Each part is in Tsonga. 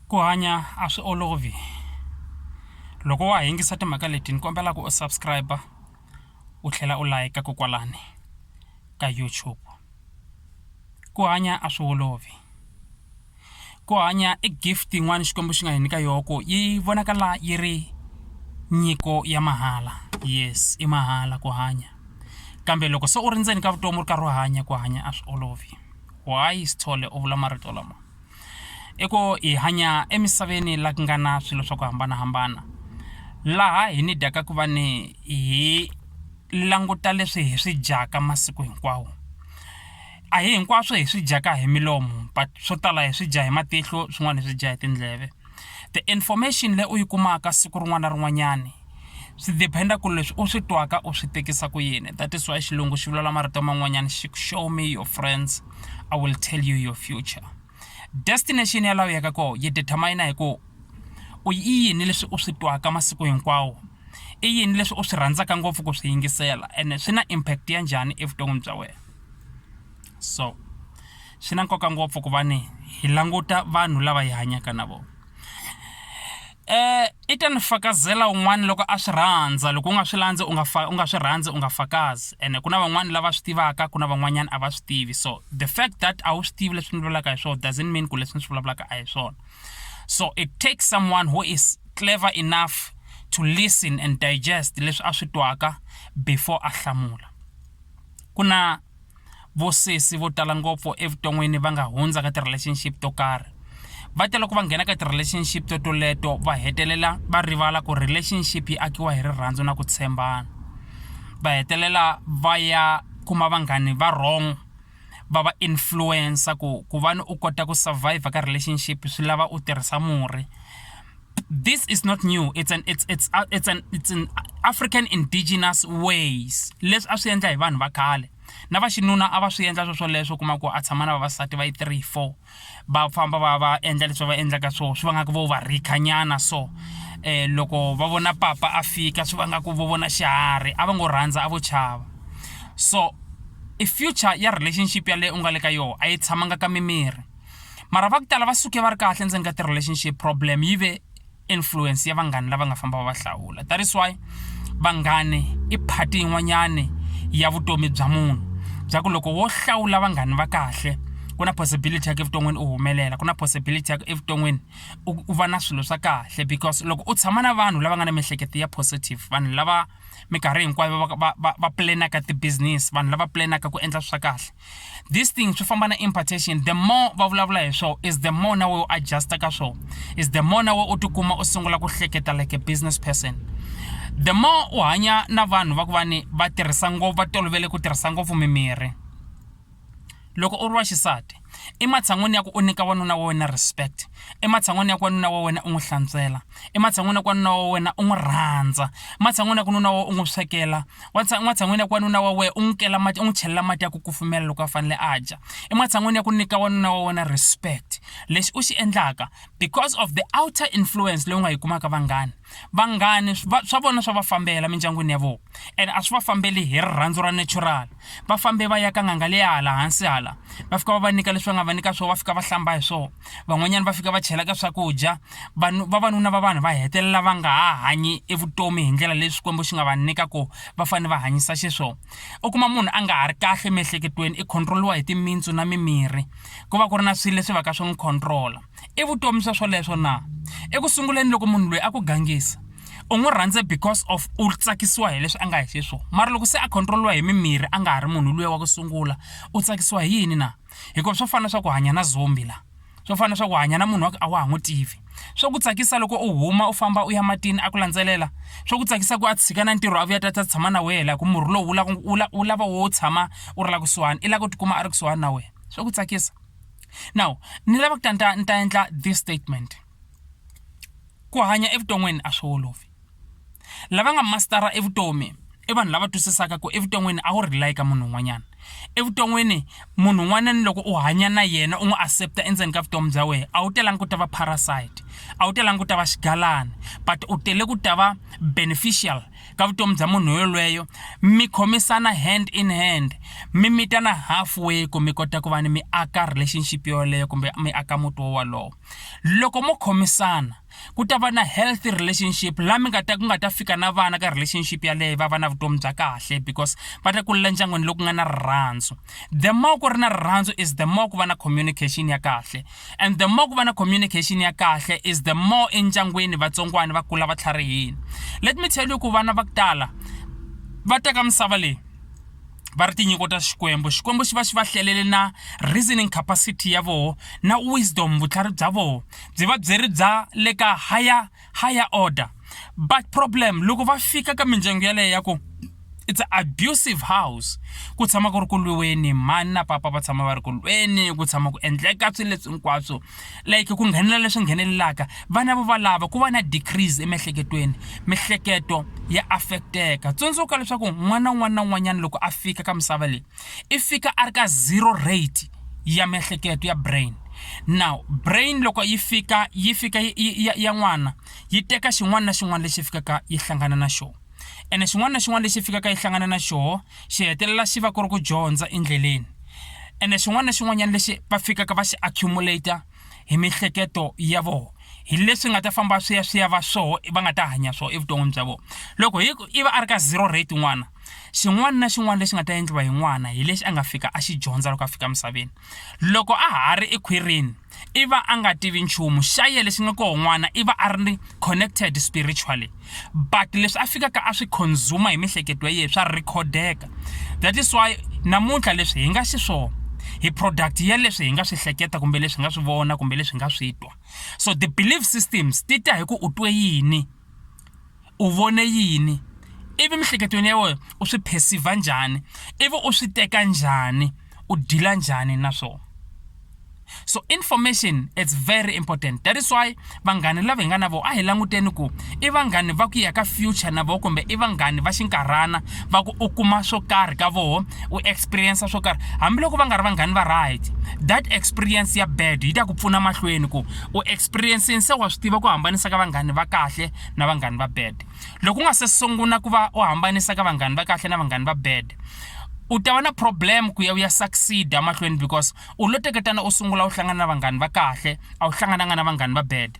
ku hanya a swi olovi loko wa ha yingisa timhaka leti ni kombela ku u subscribe u tlhela u layika ko kwalani ka YouTube ku hanya a swi olovi ku hanya i gift yin'wana xikwembu xi nga hi nyika yona ku yi vonakala yi ri nyiko ya mahala yes i mahala ku hanya kambe loko se u ri ndzeni ka vutomi u ri karhi u hanya ku hanya a swi olovi why sithole u vula marito lama i ku hi hanya emisaveni la ku nga na swilo swa ku hambanahambana laha hi ni dyaka ku va ni hi languta leswi hi swi dyaka masiku hinkwawo a hi hinkwaswo hi swi dyaka hi milomo but swo tala hi swi dya hi matihlo swin'wana hi swi dya hi tindleve. The information leyi u yi kumaka siku rin'wana na rin'wanyani swi depend-a ku leswi u swi twaka u swi tekisa ku yini that is why xilungu xi vulavula marito man'wanyana xi ku show me your friends i will tell you your future destination ya laha u yaka kona yi determine hi ku u i yini leswi u swi twaka masiku hinkwawo i yini leswi u swi rhandzaka ngopfu ku swi yingisela ene swi na impact ya njhani evuton'wini bya wena so Swi na nkoka ngopfu ku va ni hi languta vanhu lava hi hanyaka na vona. Um i ta ni fakazela un'wana loko a swi rhandza, loko u nga swi landzi u nga u nga swi rhandzi u nga fakazi. Ene ku na van'wana lava swi tivaka ku na van'wanyana a va swi tivi. So the fact that a wu swi tivi leswi ni vulavulaka hi swona doesn't mean ku leswi ni swi vulavulaka a hi swona. So it takes someone who is clever enough to listen and digest leswi a swi twaka before a hlamula. Ku na. vo sesi vo tala ngopfu evuton'wini va nga hundza ka ti-relationship to karhi va tela ku va nghena ka ti-relationship to toleto va hetelela va rivala ku relationship yi akiwa hi rirhandzu na ku tshembana va hetelela va ya kuma vanghani va wrong va va influencer ku ku va ni u kota ku survive ka relationship swi lava u tirhisa murhi. this is not new it's an it's it's uh, it's an it's an african indigenous ways leswi a swi endla hi vanhu va khale na va xinuna a va swi endla swo swoleswo kuma ku a tshama na vavasati va yi three four va famba va va endla leswi va endlaka swo swi va nga ku vo va rikhanyana so um loko va vona papa a fika swi va nga ku vo vona xiharhi a va ngo rhandza a vo chava so i future ya relationship yaleyo u nga le ka yona a yi tshamanga ka mimiri mara va ku tala va suke va ri kahle endzeni ka ti-relationship problem yi ve influence ya vanghani lava nga famba va va hlawula that is why vanghani i phati yin'wanyani ya vutomi bya munhu bya ku loko wo hlawula vanghani va kahle ku na possibility ya ku evuton'wini u humelela ku na possibility ya ku evuton'wini u va na swilo swa kahle because loko u tshama na vanhu lava nga na miehleketo ya positive vanhu lava minkarhi hinkwayo va va va va pulenaka ti-business vanhu lava pulenaka ku endla swa kahle this thing swi famba na impartation the more va vulavula hi swona is the more na we u adjusta ka swona is the more na we u tikuma u sungula ku hleketa like a business person the more u hanya na vanhu va ku va ni va tirhisa ngopfu va tolovele ku tirhisa ngopfu mimirhi loko u ri wa xisati ematshan'wini ya ku u nyika wanuna wa wena respect ematshan'wini ya ku wanuna wa wena u n'wi hlantswela ematshan'wini ya ku wanuna wa wena u n'wi rhandza ematshan'wini ya ku nuna wa wena u n'wi swekela ematshan'wini ya ku wanuna wa wena u n'wi kela mati u n'wi chelela mati ya ku kufumela loko a fanele a dya ematshan'wini ya ku nyika wanuna wa wena respect lexi u xi endlaka because of the outer influence leyi u nga yi kumaka vanghana vanghani swa vona swa va fambela mindyangwini ya vona and a swi va fambeli hi rirhandzu ra natural va fambe va ya ka n'anga leya hala hansi hala va fika va va nyika leswi va nga va nyika swona va fika va hlamba hi swona van'wanyana va fika va chela ka swakudya vanhu vavanuna va vanhu va hetelela va nga ha hanyi evutomi hi ndlela leyi xikwembu xi nga va nyika ku va fanele va hanyisa xiswona u kuma munhu a nga ha ri kahle emiehleketweni i controliwa hi timintsu na mimirhi ku va ku ri na swilo leswi va ka swi n'wi controla I vutomi swa swoleswo na? Eku sunguleni loko munhu loyi a ku gangisa, u n'wi rhandze because of u tsakisiwa hi leswi a nga hi xiswona. Mara loko se a control-iwa hi mimirhi a nga ha ri munhu luya wa ku sungula, u tsakisiwa hi yini na? Hikuva swo fana na swa ku hanya na zombie la. Swo fana na swa ku hanya na munhu wa ku a wa ha n'wi tivi. Swa ku tsakisa loko u huma u famba u ya matini a ku landzelela? Swa ku tsakisa ku a tshika na ntirho a vuya a ta ta tshama na wena la ku murhi lowu wu lava wu lava wu lava wo tshama u ri la kusuhani, i lava ku ti kuma a ri kusuhani na wena. Swa ku tsakisa. now ni lava ku ta ni ta ni ta endla this statement ku hanya evuton'wini a swi olovi lava nga mastara evutomi i vanhu lava twisisaka ku evuton'wini a wu rely ka munhu un'wanyana evuton'wini munhu un'wana ni loko u hanya na yena u n'wi accepta endzeni ka vutomi bya wena a wu telanga ku ta va parasite a wu telanga ku ta va xigalani but u tele ku ta va beneficial ka vutomi bya munhu yolweyo mi khomisana hand in hand mi mitana halfway ku mi kota ku va ni mi aka relationship yoleyo kumbe mi aka muti wo wolowo loko mo khomisana ku ta va na healthy relationship la mi nga ta ku nga ta fika na vana ka relationship yaleyo va va na vutomi bya kahle because va ta kulela ndyangwini loku nga na rirhandzu the more ku ri na rirhandzu is the more ku va na communication ya kahle And the more ku va na communication ya kahle is the more endyangwini vatsongwana va kula va tlharihini let me tell you ku vana va ku tala va teka misava leyi va ri tinyiko ta xikwembu xikwembu xi va xi va hlelele na reasoning capacity ya voho na wisdom vutlhari bya voho byi va byi ri bya le ka higher higher order but problem loko va fika ka mindyangu yaleyo ya ku it's a abusive house ku tshama ku ri ku lwiweni mhani na papa va tshama va ri ku lweni ku tshama ku endleka swilo leswi hinkwaswo like ku nghenelela leswi nghenelelaka vana vo valava ku va na decrease emiehleketweni mihleketo ya affecteka tsundzuka leswaku n'wana un'wana na un'wanyana loko a fika ka misava leyi i fika a ri ka zero rate ya miehleketo ya brain now brain loko yi fika yi fika ya n'wana yi teka xin'wana na xin'wana lexi fikaka yi hlangana na xona ene xin'wana na xin'wana lexi fikaka yi hlangana na xona xi hetelela xi va ku ri ku dyondza endleleni ene xin'wana na xin'wanyana lexi va fikaka va xi accumulator hi mihleketo ya vona hi leswi nga ta famba swi ya swi ya va swoho va nga ta hanya swoho evuton'wini bya vona loko hi i va a ri ka zero rate n'wana xin'wana na xin'wana lexi nga ta endliwa hi n'wana hi lexi a nga fika a xi dyondza loko a fika emisaveni loko a ha ri ekhwirini i va a nga tivi nchumu xa ye lexi nga koho n'wana i va a ri ni connected spiritually but leswi a fikaka a swi consume hi mihleketo ya yena swa recordeka that is why namuntlha leswi hi nga xiswona hi product ya leswi hi nga swi hleketa kumbe leswi nga swi vona kumbe leswi nga swi twa so the belief systems ti ta hi ku u twe yini u vone yini ivi mihleketweni ya wena u swi perceive njhani ivi u swi teka njhani u deal njhani na swona so information it's very important that is why vanghani lava hi nga na vona a hi languteni ku i vanghani va ku ya ka future na vona kumbe i vanghani va xinkarhana va ku u kuma swo karhi ka voho u experience swo karhi hambiloko va nga ri vanghani va right that experience ya bad yi ta ku pfuna mahlweni ku u experiencing se wa swi tiva ku hambanisa ka vanghani va kahle na vanghani va bad loko u nga se sungula ku va u hambanisa ka vanghani va kahle na vanghani va bad u ta va na problem ku ya u ya succeed amahlweni because u lo teketana u sungula u hlangana na vanghani va kahle a wu hlangananga na vanghani va bad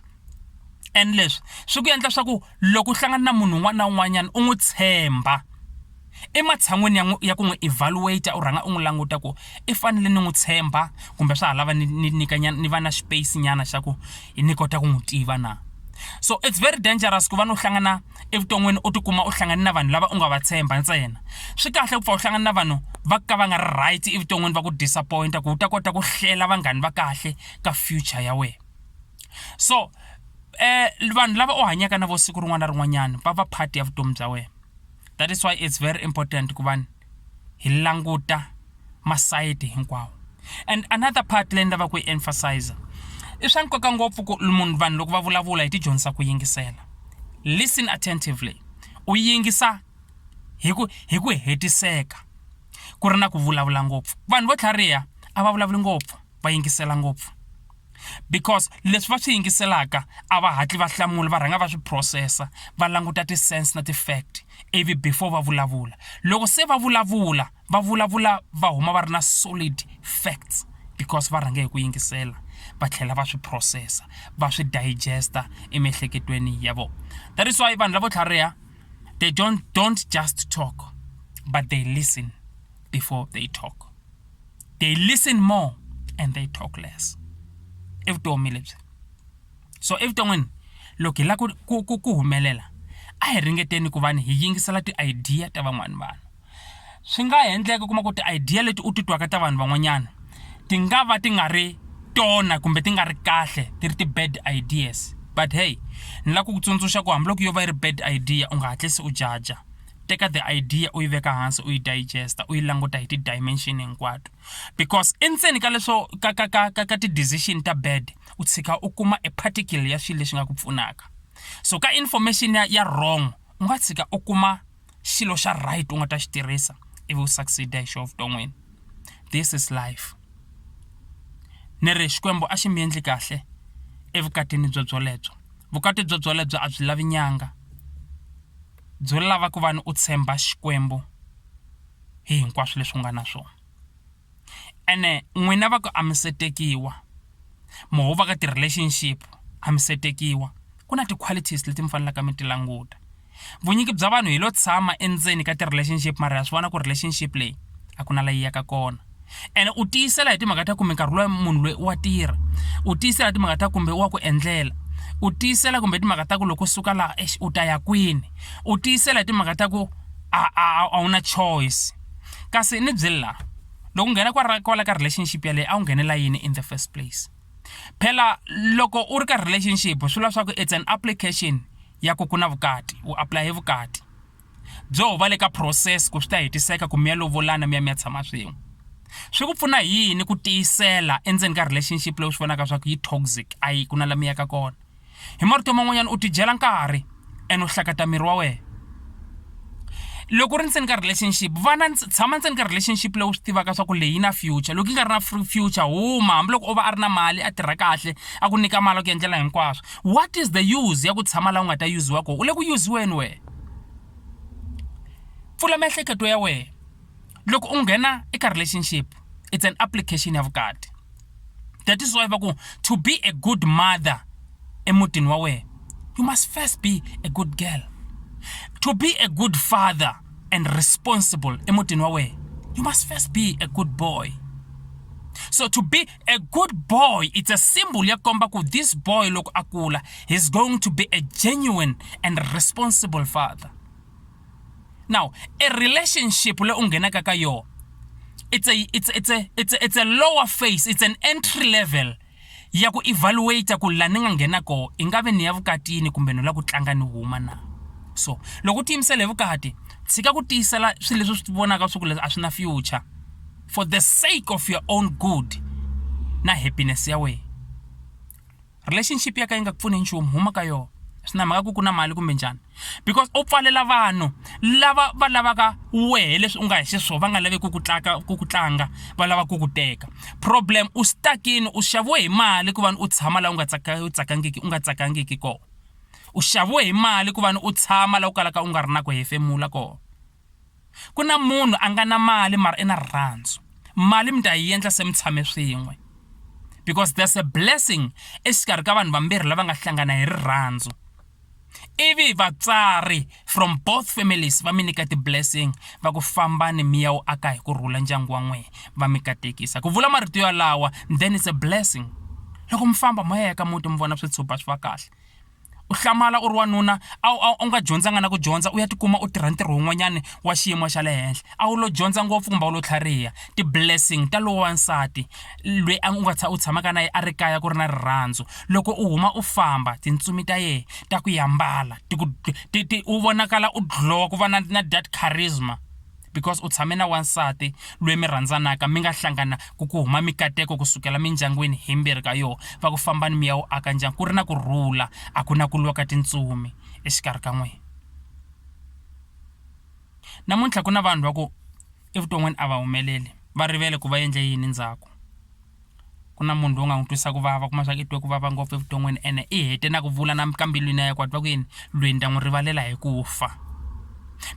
and leswi swi ku endla swa ku loko u hlangana na munhu un'wana na un'wanyana u n'wi tshemba Ematshan'weni ya n'wi ya ku n'wi evaluate u rhanga u n'wi languta ku i fanele ni n'wi tshemba kumbe swa ha lava ni ni nyika nyana ni va na space nyana xa ku ni kota ku n'wi tiva na so it's very dangerous ku va ni u hlangana evuton'wini u tikuma u hlangane na vanhu lava u nga va tshemba ntsena swi kahle ku pfa u hlangana na vanhu va ka va nga ri right evuton'wini va ku disappointa ku u ta kota ku hlela vanghani va kahle ka future ya wena so um vanhu lava u hanyaka na vo siku rin'wana na rin'wanyana va va part ya vutomi bya wena that is why it's very important ku vanhu hi languta masayiti hinkwawo and another part leyi ni lava ku yi emphasiza i swa nkoka ngopfu ku munhu vanhu loko va vulavula hi tidyondzisa ku yingisela listen attentively u yingisa hi ku hi ku hetiseka ku ri na ku vulavula ngopfu vanhu vo tlhariha a va vulavuli ngopfu va yingisela ngopfu because leswi va swi yingiselaka a va hatli va hlamula va rhanga va swi processa va languta ti-sense na ti-fact ivi before va vulavula loko se va vulavula va vulavula va huma va ri na solid facts because va rhange hi ku yingisela va tlhela va swi processa va swi digesta emiehleketweni ya vona that is why vanhu lavo tlhariha they don't, don't just talk but they listen before they talk they listen more and they talk less i vutomi lebyi so evuton'wini loko hi lava ku ku ku humelela a hi ringeteni ku va ni hi yingisela ti-idea ta van'wani vanhu swi nga ha endleka u kuma ku ti-idea leti u ti twaka ta vanhu van'wanyana ti nga va ti nga ri tona kumbe ti nga ri kahle ti ri ti-bad ideas but hey ni lava ku ku tsundzuxa ku hambiloko yo va yi ri bad idea u nga hatlisi u jaja teka the idea u yi veka hansi u yi digesta u yi languta hi ti-dimension hinkwato because endzeni ka leswo ka ka ka ka ka ti-decision ta bad u tshika u kuma e particle ya swilo leswi nga ku pfunaka so ka information ya, ya wrong u nga tshika u kuma xilo xa right u nga ta xi tirhisa ivi u succeeda hi xo vuton'wini this is life ni ri xikwembu a xi mi endli kahle evukatini byo byolebyo vukati byo byolebyo a byi lavi nyanga byo lava ku va ni u tshemba Xikwembu hi hinkwaswo leswi u nga na swona. Ene n'wina va ku a mi se tekiwa, mo ho va ka ti-relationship a mi se tekiwa, ku na ti-qualities leti mi fanelaka mi ti languta. Vunyingi bya vanhu hi lo tshama endzeni ka ti-relationship mara ha swi vona ku relationship leyi a ku na la yi yaka kona. ene u tiyisela hi timhaka ta kumbe nkarhi loyi munhu loyi wa tirha u tiyisela hi timhaka ta kumbe wa ku endlela u tiyisela kumbe timhaka ta ku loko suka laha exi u ta ya kwini u tiyisela hi timhaka ta ku a a a wu na choice kasi ni byeli laha loko u nghena kwala kwala ka relationship yaleyo a wu nghenela yini in the first place phela loko u ri ka relationship swi vula swa ku it's an application ya ku ku na vukati u apply hi vukati byo va le ka process ku swi ta hetiseka ku mi ya lovolana mi ya mi ya tshama swin'we swi ku pfuna hi yini ku tiyisela endzeni ka relationship leyi u swi vonaka swa ku yi toxic a yi ku na la mi yaka kona hi marito man'wanyana u tidyela nkarhi and u hlakata miri wa wena loko u ri ndzeni ka relationship vana tshama ndzeni ka relationship leyi u swi tivaka swa ku leyi na future loko yi nga ri na future huma hambiloko o va a ri na mali a tirha kahle a ku nyika mali a ku endlela hinkwaswo what is the use ya ku tshama laha u nga ta yuziwa kona u le ku yuziweni wena pfula miehleketo ya wena loko u nghena eka relationship it's an application ya vukati that is why va ku to be a good mother emutini wa wena you must first be a good girl to be a good father and responsible emutini wa wena you must first be a good boy so to be a good boy it's a symbol ya komba ku this boy loko a kula he's going to be a genuine and responsible father now a relationship le u nghenaka ka yona it's a it's it's a it's a, it's a lower phase it's an entry level ya ku evaluate ku la ni nga nghena ko i nga ve ni ya vukatini kumbe no la ku tlanga ni huma na so loko u tiyimisela hi vukati tshika ku tiyisela swilo leswi swi vonaka swi ku leswi a swi na future for the sake of your own good na happiness ya wena relationship ya ka yi nga ku pfuni nchumu huma ka yona swi na mhaka ku ku na mali kumbe njhani because u pfalela vanhu lava va lavaka wehe leswi u nga hi xiswona va nga lavi ku ku tlaka ku ku tlanga va lava ku ku teka problem u stakini u xaviwe hi mali ku vani u tshama laha u nga tsaka u tsakangiki u nga tsakangiki kona u xaviwe hi mali ku vani u tshama laha u kalaka u nga ri na ku hefemula kona Ku na munhu a nga na mali mara i na rirhandzu, mali mi ta yi endla se mi tshame swin'we because there's a blessing exikarhi ka vanhu vambirhi lava nga hlangana hi rirhandzu. Ivi vatswari from both families va mi nyika ti-blessing va ku fambani mi ya wu aka hi ku rhula ndyangu wa n'wehe, va mi katekisa. Ku vula marito yalawa then it's a blessing. Loko mi famba mo ya ya ka muti mi vona switshopana swi va kahle. u hlamala u ri wanuna a wu a wu nga dyondzanga na ku dyondza u ya tikuma u tirha ntirho wun'wanyana wa xiyimo xa le henhla a wu lo dyondza ngopfu kumbe a wu lo tlhariha ti-blessing ta lowa nsati lweyi a u nga u tshamaka na yena a ri kaya ku ri na rirhandzu loko u huma u famba tintsumi ta yena ta ku ya mbala ti ku ti ti u vonakala u dlhowa ku va na na that charisma. because u tshame na wansati loyi mi rhandzanaka mi nga hlangana ku ku huma mikateko ku sukela mindyangwini himbirhi ka yoho va ku fambani mi ya wu aka ndyangu ku ri na ku rhula a ku na ku lwa ka tintsumi exikarhi ka n'wina namuntlha ku na vanhu va ku evuton'wini a va humeleli va rivele ku va endle yini ndzhaku ku na munhu loyi u nga n'wi twisa ku vava kuma swa ku i twe ku vava ngopfu evuton'wini ene i hete na ku vula na ka mbilwini ya ye ku a twa ku yini lweyi ni ta n'wi rivalela hi ku fa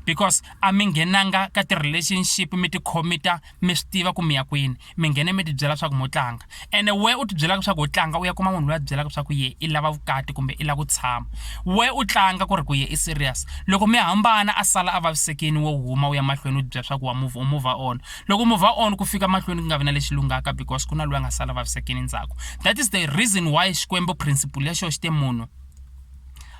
because a mi nghenanga ka ti-relationship mi ti khomita mi swi tiva ku mi ya kwini mi nghene mi ti byela swa ku mo tlanga ene we u ti byelaka swa ku ho tlanga u ya kuma munhu loyi a ti byelaka swa ku ye i lava vukati kumbe i lava ku tshama we u tlanga ku ri ku ye i serious loko mi hambana a sala a vavisekini wo huma u ya mahlweni u ti byela swa ku wa move u move on. Loko move on ku fika mahlweni ku nga vi na lexi lunghaka because ku na loyi a nga sala vavisekini ndzhaku that is the reason why xikwembu principle ya xona xi te munhu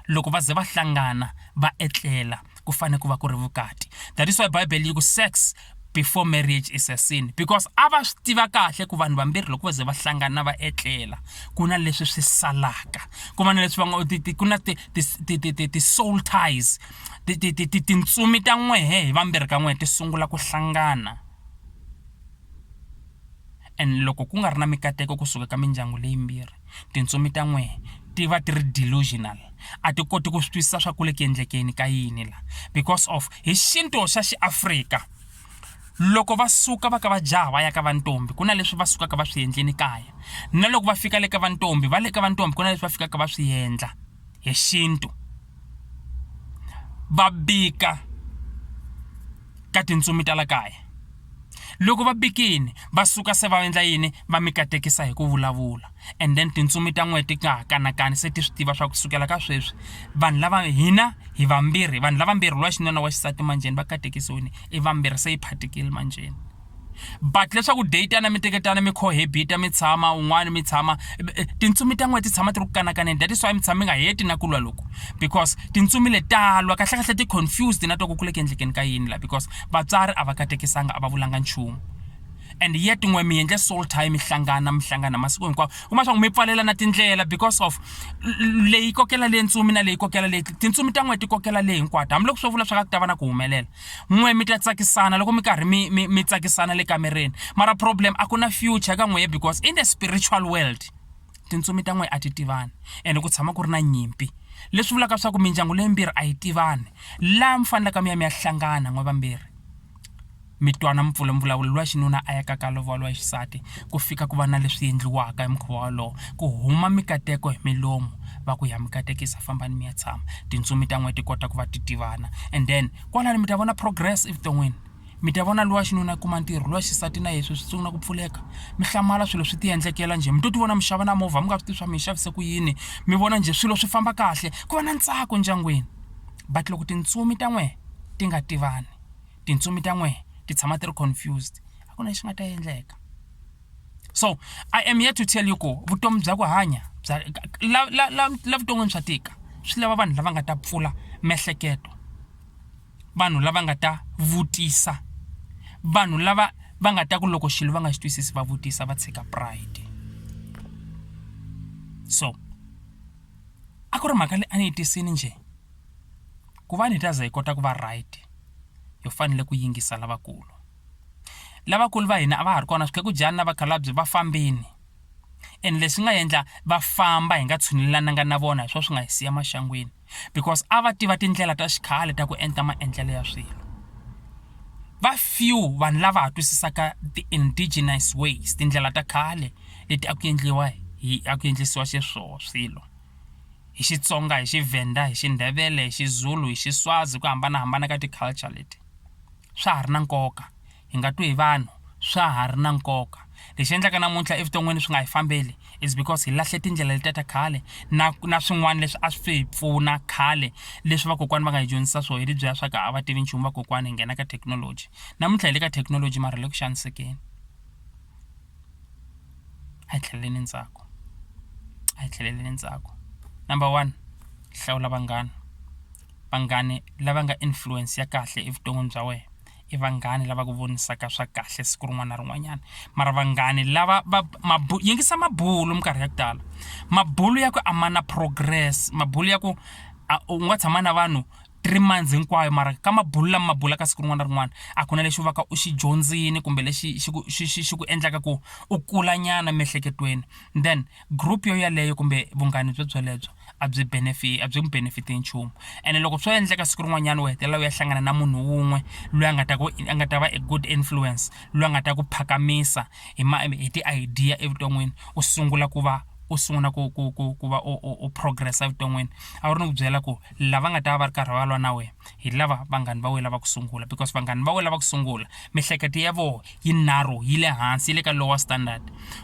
loko va ze va hlangana va etlela ku fane ku va ku ri vukati that is why bible yi ku sex before marriage is a sin because a va swi tiva kahle ku vanhu vambirhi loko va ze va hlangana va etlela ku na leswi swi salaka ku va na leswi va nga ku na ti-soul ties ti ti ti ti tintsumi ta n'wehe hi vambirhi ka n'we ti sungula ku hlangana and loko ku nga ri na mikateko kusuka ka mindyangu leyi yimbirhi tintsumi ta n'wehe ti va ti ri delusional a ti koti ku swi twisisa swa ku le ku endlekeni ka yini la because of hi xintu xa xi Afrika loko va suka va ka va jaha va ya ka va ntombi ku na leswi va sukaka va swi endleni kaya na loko va fika le ka va ntombi va le ka va ntombi ku na leswi va fikaka va swi endla. hi xintu va bika ka tintsumi ta la kaya loko va bikile va suka se va endla yini va mi katekisa hi ku vulavula and then tintsumi ta n'wehe ti nga ha kanakani se ti swi tiva swa ku sukela ka sweswi vanhu lava hina hi vambirhi vanhu lavambirhi wa xinuna wa xisati manjheni va katekisiwile i vambirhi se yi phatikile manjheni. but leswaku date ya na mi teketana mi cohabita mi tshama un'wana mi tshama eh, tintsumi ta n'we ti tshama ti ri ku kanakaneni that is why mi tshama mi nga heti na ku lwa loku because tintsumi le talwa kahlekahle ti confused na twa ku kule ku endlekeni ka yini la because vatswari a va katekisanga a va vulanga nchumu and yet n'we mi endle soul time mi hlangana mi hlangana masiku hinkwawo kuma swa ku mi pfalela na tindlela because of leyi kokela leyi ntsumi na leyi kokela leyi tintsumi ta n'we ti kokela leyi hinkwato hambiloko swo vula swa ka ku ta va na ku humelela N'we mi ta tsakisana loko mi karhi mi mi mi tsakisana le kamereni mara problem a ku na future ka n'wehe because in the spiritual world tintsumi ta n'we a ti tivani ene ku tshama ku ri na nyimpi leswi vulaka leswaku mindyangu leyimbirhi a yi tivani laha mi fanelaka mi ya mi ya hlangana n'we vambirhi mi twana mi pfula mvulavulo luwa xinuna a ya ka ka lovola wa xisati. ku fika ku va na leswi endliwaka hi mukhuva wolowo ku huma mikateko hi milomu va ku ya mi katekisa fambani mi ya tshama tintsumi ta n'wina ti kota ku va ti tivana and then kwalano mi ta vona progress evuton'wini mi ta vona lowa xinuna a kuma ntirho lowa xisati na yeswi swi sungula ku pfuleka mi hlamala swilo swi ti endlekela njhe mi to ti vona mi xava na movha mi nga swi tivi swa mi yi xavise ku yini mi vona njhe swilo swi famba kahle ku va na ntsako endyangwini but loko tintsumi ta n'wehe ti nga tivani tintsumi ta n'wehe ti tshama ti ri confused a ku na lexi nga ta endleka so i am here to tell you ku vutomi bya ku hanya bya la la la la vuton'wini swa tika swi lava vanhu lava nga ta pfula miehleketo vanhu lava nga ta vutisa vanhu lava va nga ta ku loko xilo va nga xi twisisi va vutisa va tshika pride so a ku ri mhaka leyi a ni yi tisini njhe Ku va ni ta za hi kota ku va right, hi fanele ku yingisa lavakulu. Lavakulu va hina a va ha ri kona sweswi khegujana na vakhalabye va fambile, ene leswi nga endla va famba hi nga tshunelananga na vona hi swona swi nga hi siya maxangwini. Because a va tiva tindlela ta xikhale ta ku enta maendlelo ya swilo. Va few vanhu lava ha twisisaka ti-indigenous ways, tindlela ta khale leti a ku endliwa hi a ku endlisiwa xiswona swilo. hi Xitsonga hi Xivhenda hi Xindhevele hi Xizulu hi Xiswazi hi ku hambanahambana ka ti-culture leti swa ha ri na nkoka hi nga twi hi vanhu swa ha ri na nkoka lexi endlaka namuntlha evuton'wini swi nga hi fambeli is because hi lahle tindlela letiya ta khale na na swin'wana leswi a swi hi pfuna khale leswi vakokwana va nga hi dyondzisa swona hi lebyiya swa ku a va tivi nchumu vakokwana hi nghena ka thekinoloji namuntlha hi le ka thekinoloji mara hi le ku xanisekeni. a hi tlheleleni ndzhaku a hi tlheleleni ndzhaku number one hlawula vanghana vanghani lava nga influence ya kahle evuton'wini bya wena i vanghana lava ku vonisaka swa kahle siku rin'wana na rin'wanyana mara vanghani lava va yingisa mabulo minkarhi ya ku tala mabulo ya ku a ma na progress mabulo ya ku a u nga tshama na vanhu. three months hinkwayo mara ka mabulo lama ma bulaka siku rin'wana na rin'wana a ku na lexi u va ka u xi dyondzini kumbe lexi xi ku xi xi xi ku endlaka ku u kulanyana emiehleketweni then group yo yeleyo kumbe vunghana byo byelebyo a byi benefit a byi n'wi benefit hi nchumu ene loko swo endleka siku rin'wanyana u hetelela u ya hlangana na munhu wun'we loyi a nga ta ku a nga ta va a good influence loyi a nga ta ku phakamisa hi ma hi ti-idea evuton'wini u sungula ku va u sungula ku ku ku ku va u progress evuton'wini a wu ri ni ku byela ku lava nga ta va va ri karhi va lwa na wena hi lava vanghani va wena lava ku sungula because vanghani va wena lava ku sungula mihleketo ya vona yi narrow yi le hansi yi le ka lower standard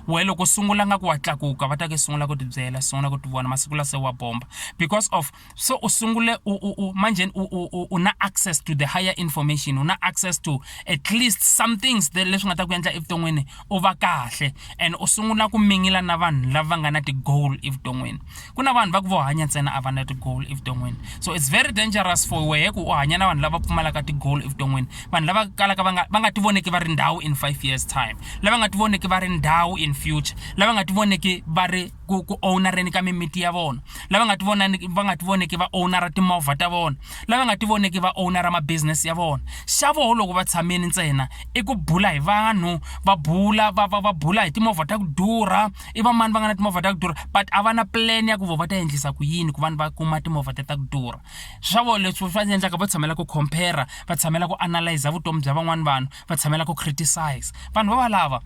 wehe loko u sungula nga ku wa tlakuka va ta ke sungula ku tibyela sungula ku tivona masiku la se wa bomba because of se u sungule u u u manjheni u u u u na access to the higher information u na access to at least some things the leswi nga ta ku endla evuton'wini u va kahle and u sungula ku mingila na vanhu lava nga na ti-goal evuton'wini ku na vanhu va ku vo hanya ntsena a va na ti-goal evuton'wini so it's very dangerous for wehe ku u hanya na vanhu lava pfumalaka ti-goal evuton'wini vanhu lava kalaka va nga va nga ti voneki va ri ndhawu in five years time lava nga ti voneki va ri ndhawu in future lava nga ti voneki va ri ku ku owunareni ka mimiti ya vona lava nga ti vonani va nga ti voneki va owunara timovha ta vona lava nga ti voneki va owunara ma-business ya vona xa voho loko va tshamile ntsena i ku bula hi vanhu va bula va va va bula hi timovha ta ku durha i va mani va nga na timovha ta ku durha but a va na plan ya ku vo va ta endlisa ku yini ku vanhu va kuma timovha ta ta ku durha swa vona leswi va endlaka va tshamela ku compare va tshamela ku analyza vutomi bya van'wani vanhu va tshamela ku criticize vanhu va valava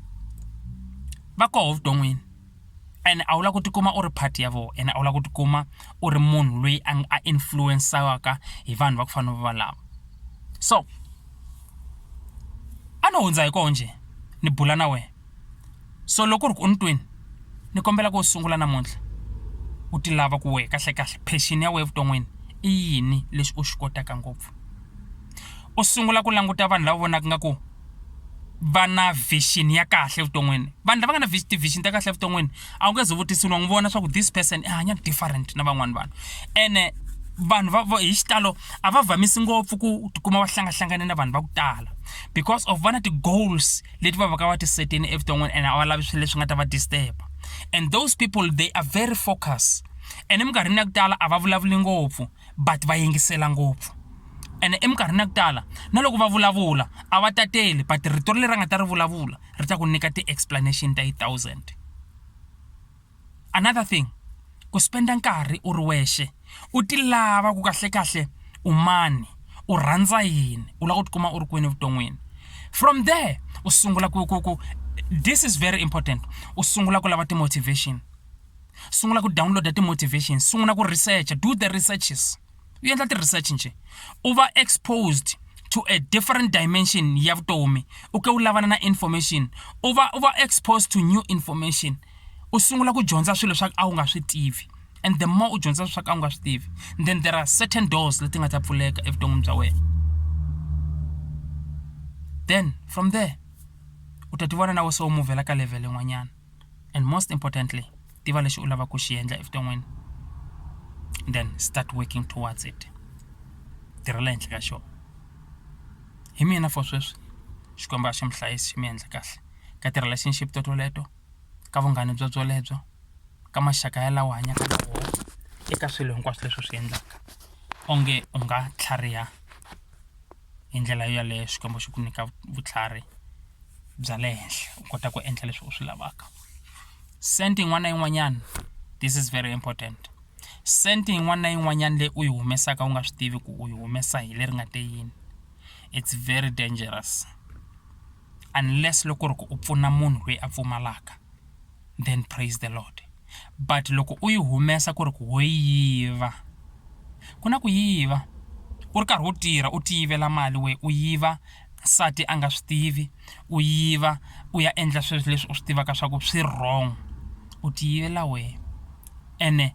va koho vuton'wini ene a wu lava ku tikuma u ri part ya vona ene a wu lava ku tikuma u ri munhu loyi a a influence-aka hi vanhu va ku fana na valava so a no hundza hi kona njhe ni bula na wena so loko ku ri ku u ni twini ni kombela ku u sungula namuntlha u ti lava ku wehe kahlekahle passion ya wena evuton'wini i yini lexi u xi kotaka ngopfu u sungula ku languta vanhu lava vonaka nga ku va na vision ya kahle evuton'wini vanhu lava nga na ti-vision ta kahle evuton'wini a wu nge ze vutisiwa n'wi vona swa ku this person i hanya different na van'wana vanhu ene vanhu va hi xitalo a va vamisi ngopfu ku tikuma va hlangahlangane na vanhu va ku tala because of vana ti-goals leti va va ka va tisetini evuton'wini ene a va lavi swilo leswi nga ta va disturb and those people they are very focus ene minkarhini ya ku tala a va vulavuli ngopfu but va yingisela ngopfu ene eminkarhini ya ku tala na loko va vulavula a va tateli but rito leri a nga ta ri vulavula ri ta ku nyika ti-explanation ta yi thousand another thing ku spenda nkarhi u ri wexe u ti lava ku kahlekahle u mani u rhandza yini u lava ku tikuma u ri kwini evuton'wini from there u sungula ku ku ku this is very important u sungula ku lava ti-motivation sungula ku download ti motivation sungula ku research do the researches u endla ti research nje u va exposed to a different dimension ya vutomi u ke u lavana na information u va u va exposed to new information u sungula ku dyondza swilo swa a wu nga swi tivi and the more u dyondza swa ka u nga swi tivi then there are certain doors leti nga ta pfuleka evuton'wini bya wena then from there u ta tivona na we se u muvhela ka level yin'wanyana and most importantly tiva lexi u lavaka ku xi endla evuton'wini then start working towards it tirhela henhla ka xona hi mina for sweswi xikwembu a xi mi hlayisi xi mi endla kahle ka tirha lexi ni xi to toleto ka vunghana bya byelebyo ka maxaka ya lawa hanyaka na wona eka swilo hinkwaswo leswi u swi endlaka onge u nga tlhariha. hi ndlela yaleyo Xikwembu xi ku nyika vutlhari bya le henhla u kota ku endla leswi u swi lavaka cent yin'wana na yin'wanyana this is very important cent yin'wana na yin'wanyana leyi u yi humesaka u nga swi tivi ku u yi humesa hi leri nga te yini it's very dangerous. unless loko ri ku u pfuna munhu loyi a pfumalaka then praise the Lord but loko u yi humesa ku ri ku ho yiva ku na ku yiva u ri karhi u tirha u ti yivela mali wena u yiva nsati a nga swi tivi u yiva u ya endla swilo leswi u swi tivaka swa ku swi wrong u ti yivela wena ene.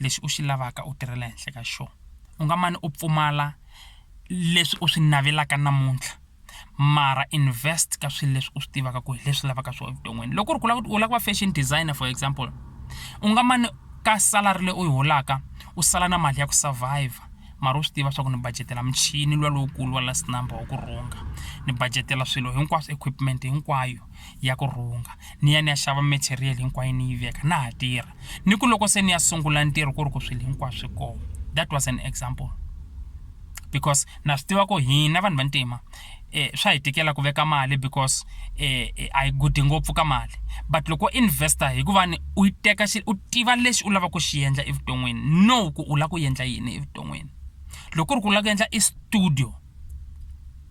lexi u xi lavaka u tirhela ehenhla ka xona u nga mane u pfumala leswi u swi navelaka namuntlha mara invest ka swilo leswi u swi tivaka ku hi leswi lavaka swona evuton'wini loko ku ri ku u lava ku va fashion designer for example u nga mane ka salary leyi u yi holaka u sala na mali ya ku survive mara u swi tiva swa ku ni budget-ela muchini luwa lowukulu wa last number wa ku rhunga ni budget-ela swilo hinkwaswo equipment hinkwayo. ya ku rhunga ni ya ni ya xava material hinkwayo ni yi veka na ha tirha ni ku loko se ni ya sungula ntirho ku ri ku swilo hinkwaswo swi kona that was an example because na swi tiva ku hina vanhu vantima eh swa hi tikela ku veka mali because eh, eh a yi gudi ngopfu ka mali but loko investor hikuva ni u yi teka xi u tiva lexi u lava ku xi endla evuton'wini no ku u lava ku endla yini evuton'wini loko ku ri ku u lava ku endla i studio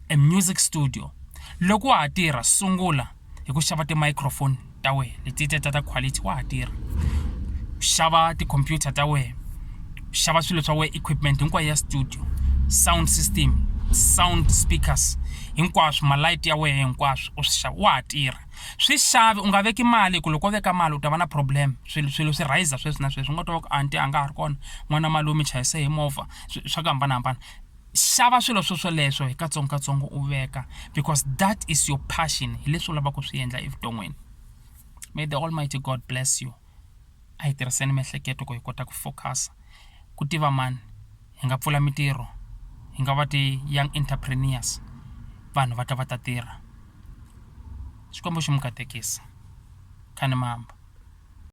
e music studio loko wa ha tirha sungula hi ku xava ti microphone ta wena letiya ta ta quality wa ha tirha xava ti computer ta wena xava swilo swa wena equipment hinkwayo ya studio sound system sound speakers hinkwaswo ma light ya wena hinkwaswo u swi xava wa ha tirha swi xavi u nga veki mali hi ku loko wo veka mali u ta va na problem swilo swilo swi rhayizisa sweswi na sweswi u nga twa ku anti a nga ha ri kona n'wana malume chayise hi movha swa ku hambanahambana xava swilo swo swoleswo hi katsongokatsongo u veka because that is your passion hi leswi u lavaka ku swi endla evuton'wini may the almighty god bless you a hi tirhiseni miehleketo ku hi kota ku focus ku tiva mani hi nga pfula mitirho hi nga va ti-young entrepreneurs vanhu va ta va ta tirha xikwembu xi mi katekisa khanimamba